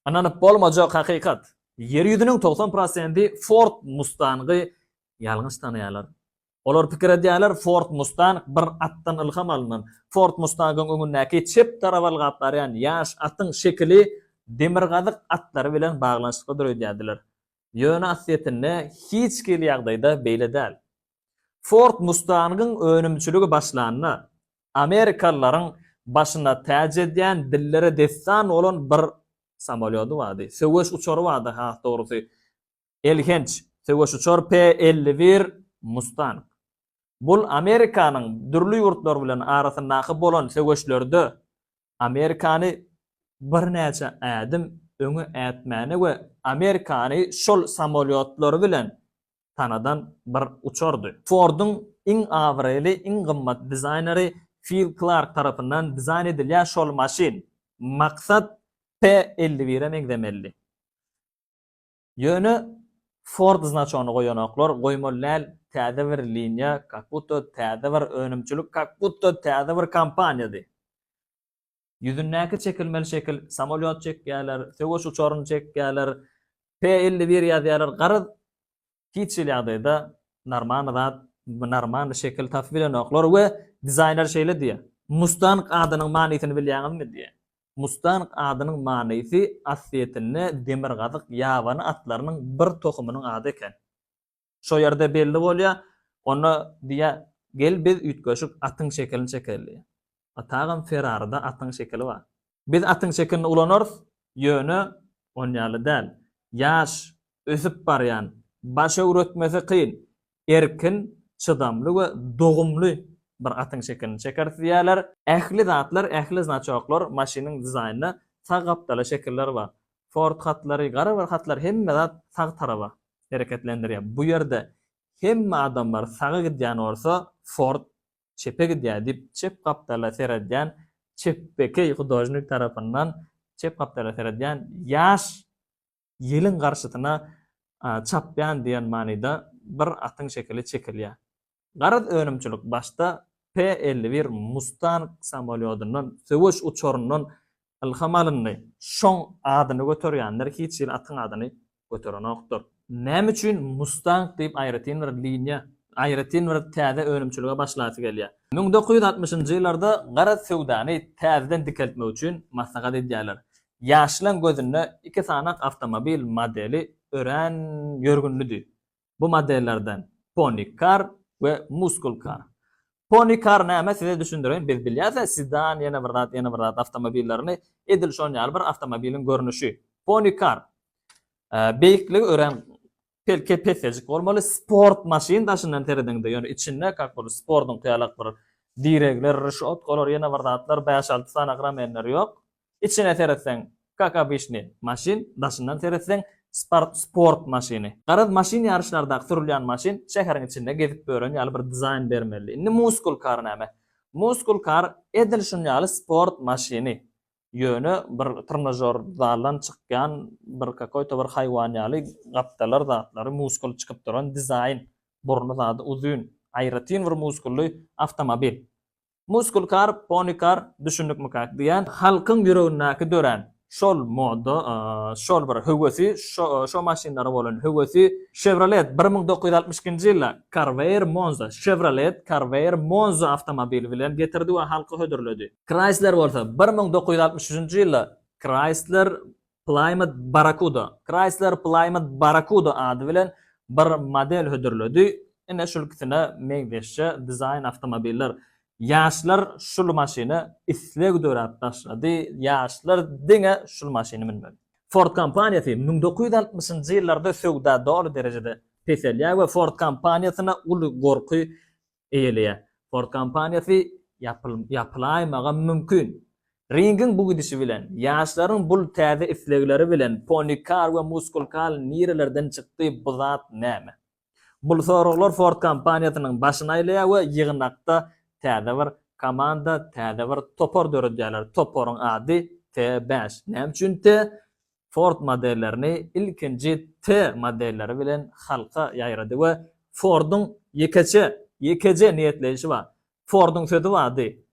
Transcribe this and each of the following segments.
Ynanyp bolmajak hakykat. Ýer ýüzüniň togsan prosenti Ford Mustang-y ýalňyş tanaýarlar. Olar pikir edýärler, Ford Mustang bir atdan ylham alnan. Ford Mustang-yň öňündäki çep tarap ylgap barýan ýaş atyň şekili demirgazyk atlary bilen baglanyşyklydyr öýdýärdiler. Ýöne aslyýetinde hiç hili ýagdaýda beýle däl. Ford Mustang-yň önümçiligi başlanda, amerikalylaryň başyna täç edýän, dillere dessan bolan bir samolýody bardy. Söweş uçary bardy, has dogrusy, elhenç söweş uçar P elli bir Mustang. Bul Amerikanyň dürli ýurtlar bilen arasyndaky bolan söweşlerde Amerikany birnäçe ädim öňe ätmäne we Amerikany şol samolýotlary bilen sanadan bir uçardy. Ford-yň iň abraýly, iň gymmat dizaýneri Fil Klark tarapyndan dizaýn edilýän şol maşyn Maksat P elli bire meňzemelidi. Ýöne Ford znaçogyny goýanoklar, goýmaly däl, täze bir liniýa, kakbutda täze bir önümçilik, kakbutda täze bir kompaniýady. Ýüzündäki çekilmeli şekil, samolýot çekýärler, söweş uçaryny çekýärler, P elli bir ýazýarlar, garaz, hiç hili ýagdaýda normal zat, normal şekil tapyp bilenoklar we dizaýner şeýle diýýär, Mustang adynyň manysyny bilýäňizmi? diýýär. Mustang adynyň manysy Ossetinde demirgazyk ýabany atlarynyň bir tohumynyň ady eken. Şo ýerde belli bolýar. Onda diýýär, Gel biz üýtgeşik atyň şekilini çekeýli diýýär. A Tagam Ferrarida atyň şekili bar. Biz atyň şekilini ulanarys, ýöne on ýaly däl. Ýaş, ösüp barýan, baş öwretmesi kyn, erkin, çydamly we dogumly bir atyň şekilini çekeris diýýärler. Ähli zatlar, ähli znaçoklar, maşynyň dizaýnynda sag gapdala şekiller bar. Ford hatlary, gara bir hatlar hemme zat sag taraba hereketlendirýär. Bu ýerde hemme adamlar saga gidýän bolsa, Ford çepe gidýär diýip, çep gapdala seredýän çepbekeý hudožnik tarapyndan çep gapdala seredýän ýaş ýeliň garşysyna çapýan diýen manyda bir atyň şekili çekilýär. Garaz önümçilik başda P elli bir Mustang samolýodundan, söweş uçaryndan ylham alyndy. Şoň adyny göterýänler hiç hili atyň adyny göterenokdyr. Näme üçin Mustang diýip aýratyn bir liniýa, aýratyn bir täze önümçilige başlasy gelýär? Müň dokuz ýüz altmyşynjy ýyllarda garaz söwdany täzeden dikeltmek üçin maslahat edýärler. Ýaşlaň gözünde iki sanyk awtomobil modeli örän ýörgünlidi. Bu modellerden Pony Car we Muscle Car. Pony Car näme size düşündireýin biz bilýäse Sedan ýene bir zat ýene bir zat awtomobillerini edil şon ýaly bir awtomobiliň görnüşi. Pony Car beýikligi örän pelke pesejik bolmaly sport maşyn daşyndan serediňde ýöne içinde kak bir spordyňky ýalak bir diregler, rişotkalar ýene bir zatlar bäş alty sany agram enleri ýok. Içine seretseň, kak obyçnyý, maşyn, daşyndan seretseň, sport sport maşyny. Garaz, maşyn ýaryşlardaky sürülýän maşyn şäheriň içinde gezip ýören ýaly bir dizaýn bermelidi. Indi muscle car näme? Muscle car edil şun ýaly sport maşyny. Ýöne bir trnažor zaldan çykýan bir kakoýto bir haýwan ýaly gapdalar zatlary muskul çykyp duran dizaýn. Burny zady uzyn. Aýratyn bir muskully awtomobil. Muskul kar, pony kar, düşündikmika? diýen halkyň ýüregindäki dörän şol moda, şol bir höwesi, şo maşynlara bolan höwesi Chevrolet bir müň dokuz ýüz altmyş ikinji ýylda Corvair Monza, Chevrolet Corvair Monza awtomobili bilen getirdi we halky hödürledi. Chrysler bolsa bir müň dokuz ýüz altmyş üçünji ýylda Chrysler Plymouth Barracuda, Chrysler Plymouth Barracuda ady bilen bir model hödürledi. Ine şul ikisine meňzeşje dizaýn awtomobiller. Ýaşlar şul maşyna isleg döräp başlady, ýaşlar diňe şul maşyny münmeli. Ford kompaniýasy müň dokuz ýüz altmyşynjy ýyllarda söwda doly derejede peselýär we Ford kompaniýasyna uly gorky eýeleýär. Ford kompaniýasy ýapylaýmagam mümkin. Ringiň bu gidişi bilen, ýaşlaryň bul täze islegleri bilen Pony Kar we Muskul Kal nirelerden çykdy, bu zat näme? Bul soraglar Ford kompaniýasynyň başyny aýlaýar we ýygnakda täze bir komanda, täze bir topar döredýärler. Toparyň ady T beş. Näme üçin T? Ford modellerini ilkinji T modelleri bilen halka ýaýrady we Forduň ýekeçe, ýekeje niýetleýşi bar. Forduň sözi bardy,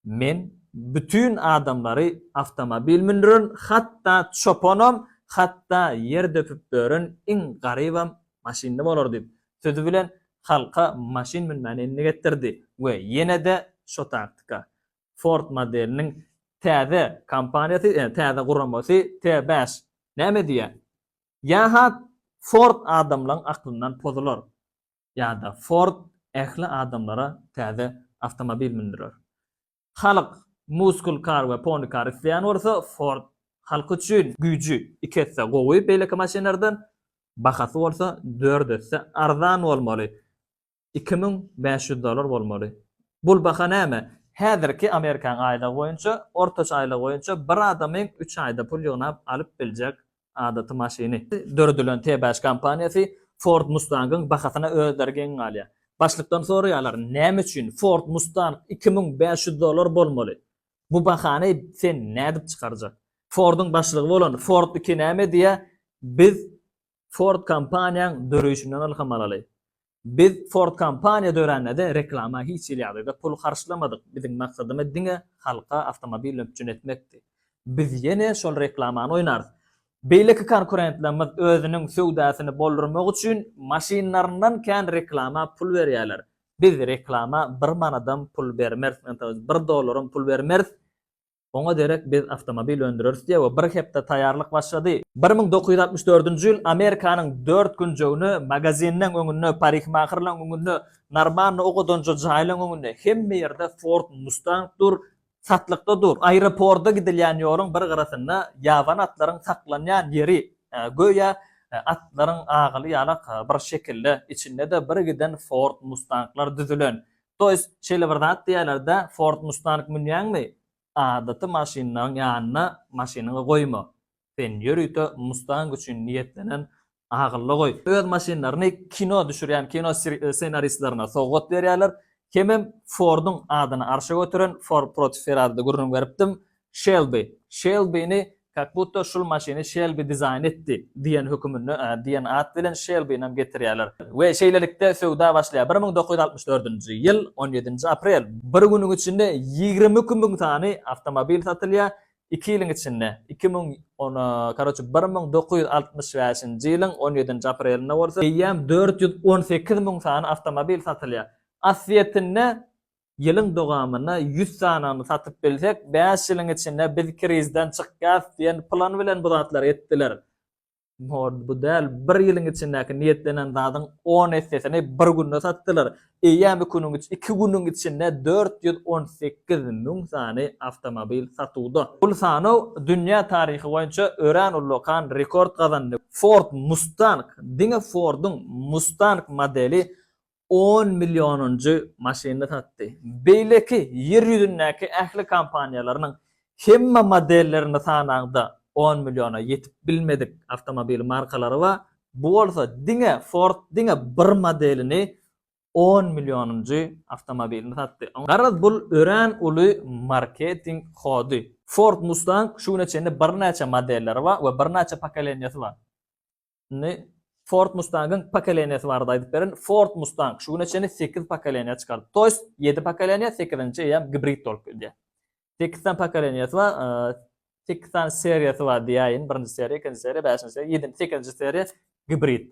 Men bütin adamlary awtomobil mündüren, hatda çopanam, hatda ýer döpüp dören iň garybam maşynly bolar diýip, sözi bilen halka maşyn münmäni endik etdirdi we ýene-de şo taktika. Ford modeliniň täze kompaniýasy, täze guramasy T-bäş näme diýýär? Ýa-ha Ford adamlaryň aklyndan pozular, ýa-da Ford ähli adamlara täze awtomobil mündürer. Halk muscle car we pony car isleýän bolsa, Ford halk üçin güýji iki esse gowy beýleki maşynlardan, bahasy bolsa dört esse arzan bolmaly. Iki müň bäş ýüz dollar bolmaly. Bul baha näme? Häzirki Amerikan aýlygy boýunça, ortaça aýlygy boýunça bir adamyň üç aýda pul ýygnap alyp biljek adaty maşyny. Döredilen T-Bash kompaniýasy Ford Mustang-yň bahasyna özleri geň galýar. Başlykdan soraýarlar, näme üçin Ford Mustang iki müň bäş ýüz dollar bolmaly? Bu bahany sen nädip çykarjak? Ford-yň başlygy bolan Ford iki näme diýýär, biz Ford kompaniýaň döreýşinden ylham alaly. Biz Ford kompaniýa dörände-de reklama hiç hili ýagdaýda pul harçlamadyk, biziň maksadymyz diňe halka awtomobil üpjün etmekdi. Biz ýene şol reklamany oýnarys. Beýleki konkurentlerimiz özüniň söwdasyny boldurmak üçin maşynlaryndan kän reklama pul berýärler. Biz reklama bir manadam pul bermeris, ynha, bir dollaram pul bermeris. Oňa derek biz awtomobil öndüreris diýip, bir hepde taýýarlyk başlady. Bir müň dokuz ýüz altmyş dördünji ýyl Amerikanyň dört künjegine, magazinleň öňüne, parikmahyrlaň öňüne, Normanna ok atanja jaýlaň öňüne, hemme ýerde Ford Mustang dur, satlykda dur. Aeroporda gidilýän ýoluň bir gyrasynda ýabany atlaryň saklanýan ýeri, göýä, atlaryň agaly ýalak bir şekilde, içinde-de birgiden Ford Mustanglar düzülen. To jest şeýle bir zat diýýärler-dä, Ford Mustang münýäňmi, adaty maşynlaryň ýanyna maşynyňy goýma. Sen ýörite Mustang üçin niýetlenen agylla goý. Öz maşynlaryny kino düşürýän kino ssenaristlerine sowgat berýärler. Hemem Forduň adyny arşa göteren Ford proti Ferraride gürrüň beripdim. Şelbi, Şelbini kak butta şul maşyny Şelbi dizaýn etdi diýen höküminde diýen at bilen Şelbinem getirýärler. We şeýlelikde söwda başlaýar. Bir müň dokuz ýüz altmyş dördünji ýyl on ýedinji aprel. Bir günüň içinde ýigrimi iki müň sany awtomobil satylýar. Iki ýylyň içinde, iki müň on, karoçe, bir müň dokuz ýüz altmyş bäşinji ýylyň on ýedinji aprelinde bolsa eýýäm dört ýüz on sekiz müň sany awtomobil satylýar. Aslyýetinde Ýylyň dowamynda ýüz sanyny satyp bilsek, bäş ýylyň içinde biz krizden çykýarys diýen plan bilen bu zatlary etdiler. Mord bu däl, bir ýylyň içindäki niýetlenen zadyň on essesini bir günde satdylar. Eýýäm iki günüň içinde dört ýüz on sekiz müň sany awtomobil satuwda. Bu sanaw dünýä taryhy boýunça örän ullakan rekord gazandy. Ford Mustang, diňe Ford-yň Mustang modeli on millionynjy maşynyny satdy. Beýleki Ýer ýüzündäki ähli kompaniýalarynyň hemme modellerini sanaňda, on milliona ýetip bilmedik awtomobil markalary bar, bu bolsa diňe Ford diňe bir modelini on millionynjy awtomobilini satdy. Garaz bul örän uly marketing hody. Ford Mustang şu güne çenli birnäçe modelleri bar we birnäçe pokoleniýasy bar. Indi Ford Mustang-yň pokoleniýasy barada aýdyp berin. Ford Mustang şu güne çenli 8 pokoleniýa çykarypdy. Toýs 7 pokoleniýa, 8-nji eýýäm gibrid bolup gelýär. 8 sany pokoleniýasy bar, 8 sany seriýasy bar diýäýin. Birinji seriýa, ikinji seriýa, bäşinji seriýa, ýedinji, sekizinji seriýa gibrid.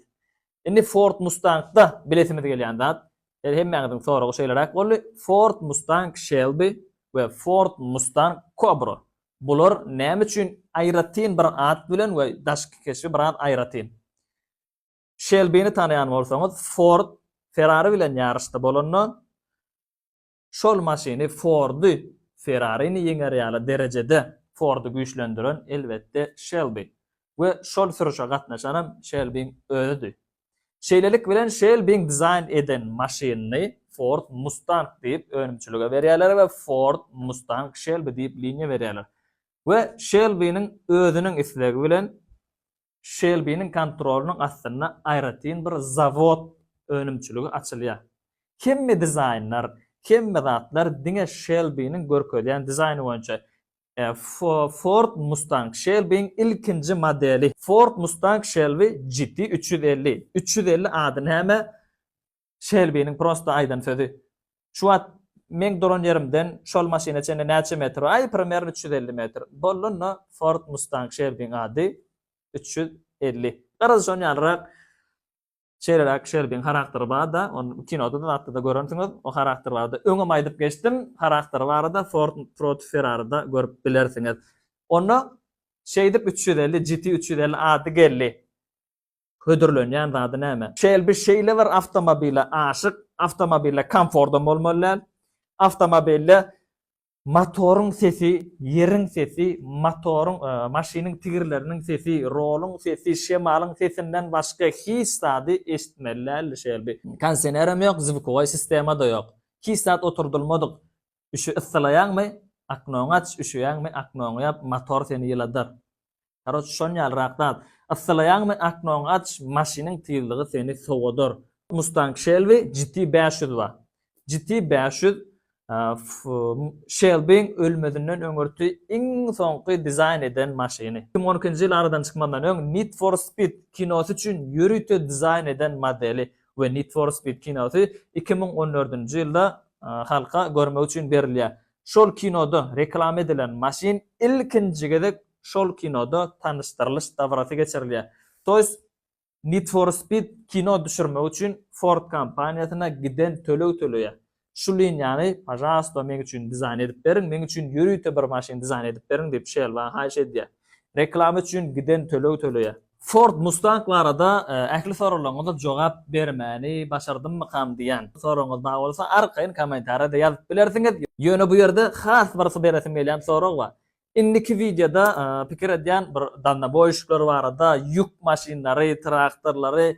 Indi Ford Mustang-da bilesimiz gelýän zat, el hemmäňiziň soragy şeýleräk boldy. Ford Mustang Shelby we Ford Mustang Cobra. Bular näme üçin aýratyn bir at bilen we daşky keşbi biraz aýratyn. Şelbini tanaýan bolsaňyz, Ford Ferrari bilen ýaryşda bolanda, şol maşyny Fordy Ferrarini ýeňer ýaly derejede Fordy güýçlendiren elbetde Şelbi. we şol sürüşe gatnaşanam Şelbiň özüdi. Şeýlelik bilen Şelbiň dizaýn eden maşynyny Ford Mustang diýip önümçilige berýärler we Ford Mustang Şelbi diýip liniýa berýärler. We Şelbiniň özüniň islegi bilen Şelbiniň kontrolynyň astynda aýratyn bir zawod önümçiligi açylýar. Hemme dizaýnlar, hemme zatlar diňe Şelbiniň görkezýän dizaýny boýunça Ford Mustang Shelby-iň ilkinji modeli. Ford Mustang Shelby GT üç ýüz elli. Üç ýüz elli ady näme? Shelby-niň prosta aýdan sözi. Şu wagt meň duran ýerimden şol maşyna çenli näçe metr? Aý, primerno üç ýüz elli metr. Boldy onda Ford Mustang Shelby-iň ady üç ýüz elli. Garaz şon ýalyrak Şeýleräk Şelbiň harakteri bar-da, ony kinoda-da, zatda-da görensiňiz. O harakter barada öňem aýdyp geçdim. Harakteri barada Ford proti Ferrari-da görüp bilersiňiz. Onda şeýdip üç ýüz elli, GT üç ýüz elli ady geldi. Hödürlenýän zady näme? Şelbi şeýle bir awtomobile aşyk, awtomobilde komfordam bolmaly däl, awtomobilde Motoryň sesi, ýeriň sesi, motoryň, maşynyň tigirleriniň sesi, roluň sesi, şemalyň sesinden başga hiç zady eşitmeli däldi Şelbi. Kondisionerem ýok, zwukoý sistema-da ýok. Hiç zat oturdylmadyk. Üşü, yssylaýaňmy, oknoňy aç, üşüýäňmi, oknoňy ýap, motor seni ýyladar. Karoç şon ýalyrak zat. Yssylaýaňmy aknoňy aç maşynyň tyzlygy seni sowadar. Mustang Shelby GT bäş ýüz ba. GT bäş ýüz Shelbyň ölmezinden öňürti iň soňky dizaýn eden maşyny. Iki müň on ikinji ýyl aradan çykmazyndan öň Need for Speed kinosy üçin ýörite dizaýn eden modeli we Need for Speed kinosy iki müň on dördünji ýylda halka görmek üçin berilýär. Şol kinoda reklama edilen maşyn ilkinji gezek şol kinoda tanyşdyrylyş dabarasy geçirilýär. Toýs Need for Speed kino düşürmek üçin Ford kompaniýasyna giden töleg töleýär. Şu liniýany, pažarosto, meň üçin dizaýn edip beriň, meň üçin ýörite bir maşyn dizaýn edip beriň diýip Şelba haýyş edýär. Reklama üçin giden töleg töleýär. Ford Mustang barada ähli soraglaryňyza jogap bermäni başardymmykam diýýän soragyňyz bar bolsa arkaýyn kommentariýada ýazyp bilersiňiz. Ýöne bu ýerde has bir beresim gelýän sorag bar. Indiki wideoda pikir edýän bir dalnoboýşiklary barada, ýük maşynlary, traktorlary,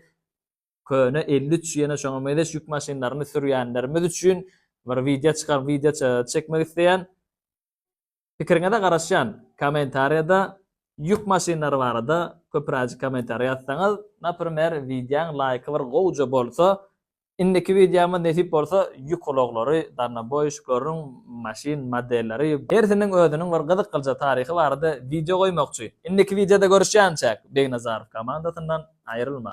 köne elli üç ýene şoňa mezeş ýük maşynlaryny sürýänlerimiz üçin bir wideo çykar wideo çekmek isleýän. Pikiriňize garaşýan kommentariýada ýük maşynlary barada köpüräjik kommentariýa ýazsaňyz, naprimer wideoň laýky bir gowja bolsa Indiki wideomyz nesip bolsa ýük ulaglary, darnoboýuşiklaryň maşyn modelleri, hersiniň özüniň bir gyzyk gylja taryhy barada wideo goýmakçy. Indiki wideoda görüşýänçäk, Begnazarow komandasyndan aýrylma.